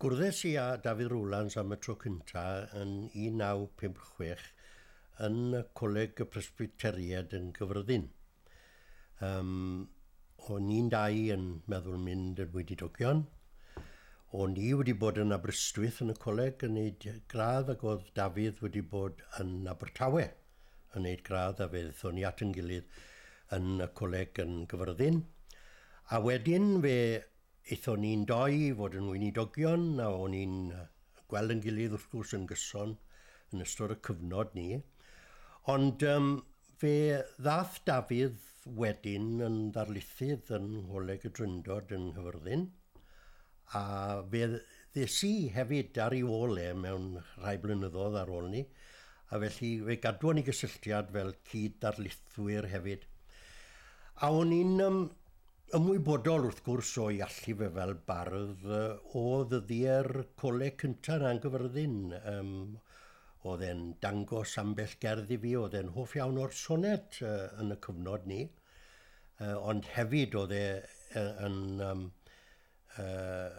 Gwrddais i â Dafydd Rowlands am y tro cynta yn 1956 yn y Coleg y Presbyteriaid yn Gyffredin. Yym, o'n ni'n dau yn meddwl mynd yn weinidogion. O'n i wedi bod yn Aberystwyth yn y coleg yn neud gradd ac oedd Dafydd wedi bod yn Abertawe yn neud gradd a fe ddethon ni at yn gilydd yn y coleg yn Gyffredin. A wedyn fe Aethon ni'n dou i fod yn weinidogion a o'n ni'n gweld yn gilydd wrth gwrs yn gyson yn ystod y cyfnod ni. Ond um, fe ddath Dafydd wedyn yn ddarlithydd yn Ngholeg y Dryndod yn Nghyfyrddin a fe ddes i hefyd ar ei ôl e mewn rhai blynyddoedd ar ôl ni a felly fe gadwon ni gysylltiad fel cyd-darlithwyr hefyd. A o'n i'n um, Ymwybodol wrth gwrs o'i allu fe fel bardd, o ddyddiau'r coleg cynta' yn Angyfyrddin, yym, o'dd e'n dangos ambell gerdd i fi o'dd e'n hoff iawn o'r soned yy yn y cyfnod 'ny, yy ond hefyd o'dd e yy yn yym yy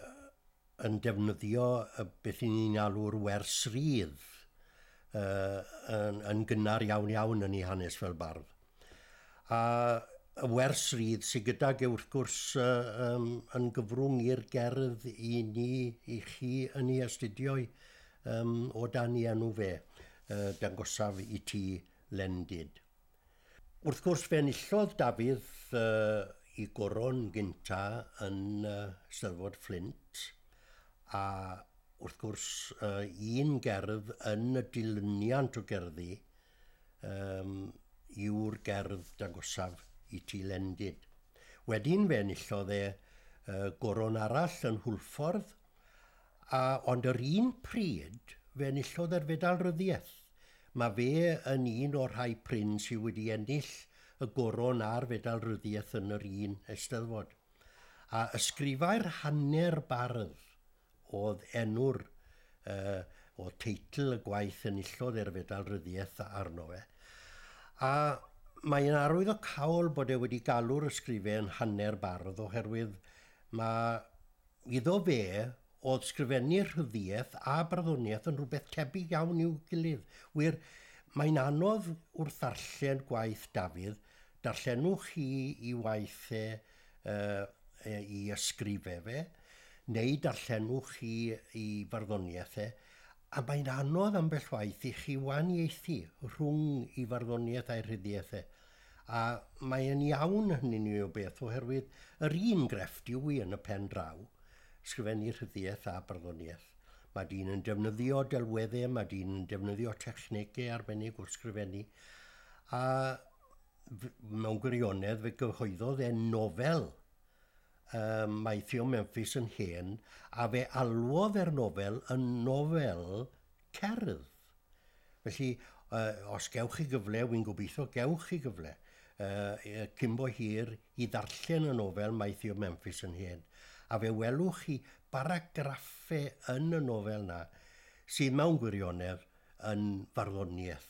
yn defnyddio beth i ni'n alw'r wers rydd yn gynnar iawn iawn yn ei hanes fel bardd. A y wers rydd sydd gydag e wrth gwrs yn gyfrwng i'r gerdd i ni, i chi yn ei astudio i o dan ei enw fe, dangosaf i ti Lendid. Wrth gwrs fe enillodd Dafydd uh, i goron gynta yn uh, Steddfod Fflint a wrth gwrs uh, un gerdd yn y dilyniant o gerddi um, yw'r gerdd dagosaf i ti lendid. Wedyn fe enillodd e uh, goron arall yn Hwlffordd A ond yr un pryd, fe enillodd e'r Fedal Ryddiaith. Mae fe yn un o'r rhai prin sydd wedi ennill y Goron a'r Fedal Ryddiaith yn yr un Eisteddfod. A ysgrifai'r hanner bardd oedd enw'r, uh, oedd teitl y gwaith enillodd e'r Fedal Ryddiaith arno fe. A mae yn arwydd o cawl bod e wedi galw'r ysgrifen hanner bardd oherwydd mae Iddo fe, o'dd sgrifennu rhyddiaith a barddoniaeth yn rhywbeth tebyg iawn i'w gilydd. Wir, mae'n anodd wrth ddarllen gwaith Dafydd, darllenwch chi i waith e yy i ysgrife fe, neu darllenwch chi i farddoniaeth e, A mae'n anodd ambell waith i chi wahaniaethu rhwng ei farddoniaeth a'i rhyddiaith e. A mae e'n iawn hynny'n un o beth oherwydd yr un grefft yw hi yn y pen draw, sgrifennu rhyddiaith a barddoniaeth. Mae dyn yn defnyddio delweddau, mae dyn yn defnyddio technegau arbennig wrth sgrifennu, a mewn gwirionedd fe gyhoeddodd e nofel Ym maethion Memphis yn hen, a fe alwodd e'r nofel yn nofel cerdd. Felly, os gewch chi gyfle, wy'n gobeithio gewch chi gyfle, cyn bo hir, i ddarllen y nofel Maethion Memphis yn hen, a fe welwch chi baragraffau yn y nofel 'na sydd mewn gwirionedd yn farddoniaeth.